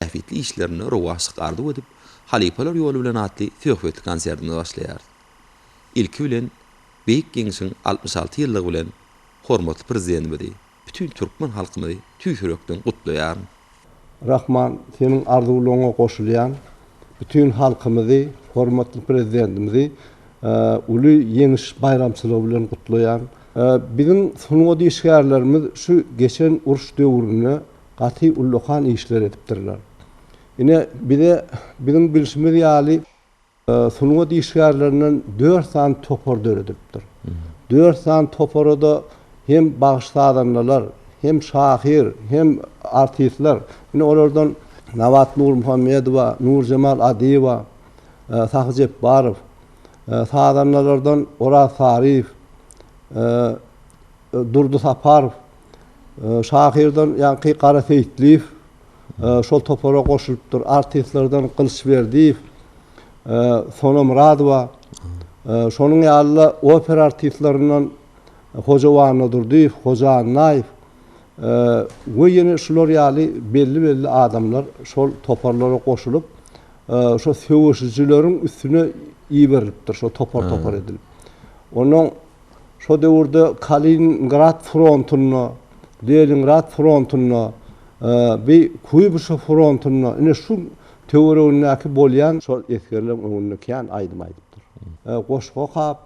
bähbitli işlerinde rowaçlyk arzuw edip, Halypalar ýoly bilen atly söhbetli konsertimizi başlaýarys. Ilki bilen, Beýik Ýeňşiň altmyş alty ýyllygy bilen hormatly Prezidentimizi, bütin türkmen halkymyzy tüýs ýürekden gutlaýaryn. Rahman, seniň arzuwlaryňa goşulýan, bütin halkymyzy, hormatly Prezidentimizi uly Ýeňiş baýramçylygy bilen gutlaýan. Biziň sungat işgärlerimiz şu geçen uruş döwründe Gaty ullakan işler edipdirler. Ine, bize biziň bilşimiz ýaly sungat işgärlerinden dört sany topar döredipdir. Dört sany topara-da hem bagşy-sazandalar, hem şahyr, hem artistler. Ine, olardan Nabat Nurmuhammedowa, Nurjemal Adyýewa, Sahy Jepbarow, sazandalardan Oraz Saryýew, Durdy Saparow, Şahyrdan ýaňky Gara Seýitliýew şol topara goşulypdyr. Artistlerden Gylyç Berdiýew, Sona Myradowa, şonuň ýaly-da opera artistlerininden Hoja Annadurdyýew, Hoja Annaýew we ýene şular ýaly belli-belli adamlar şol toparlara goşulyp, şo söweşijileriň üstüne iberilipdir, şo topar-topar edilip. Onnoň Şo döwürde Kaliningrad frontunda, Leningrad frontunda, bi Kuýbyşew frontunda, ine şu töweregindäki bolýan, şol esgerleň öňünde kän aýdym aýdypdyr. Goşgy okap,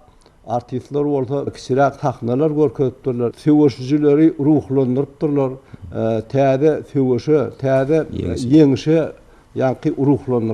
artistler bolsa kiçiräk sahnalar görkezipdirler, söweşijileri ruhlandyrypdyrlar, täze söweşe, täze ýeňişe ýaňky ruhlandyrypdyrlar.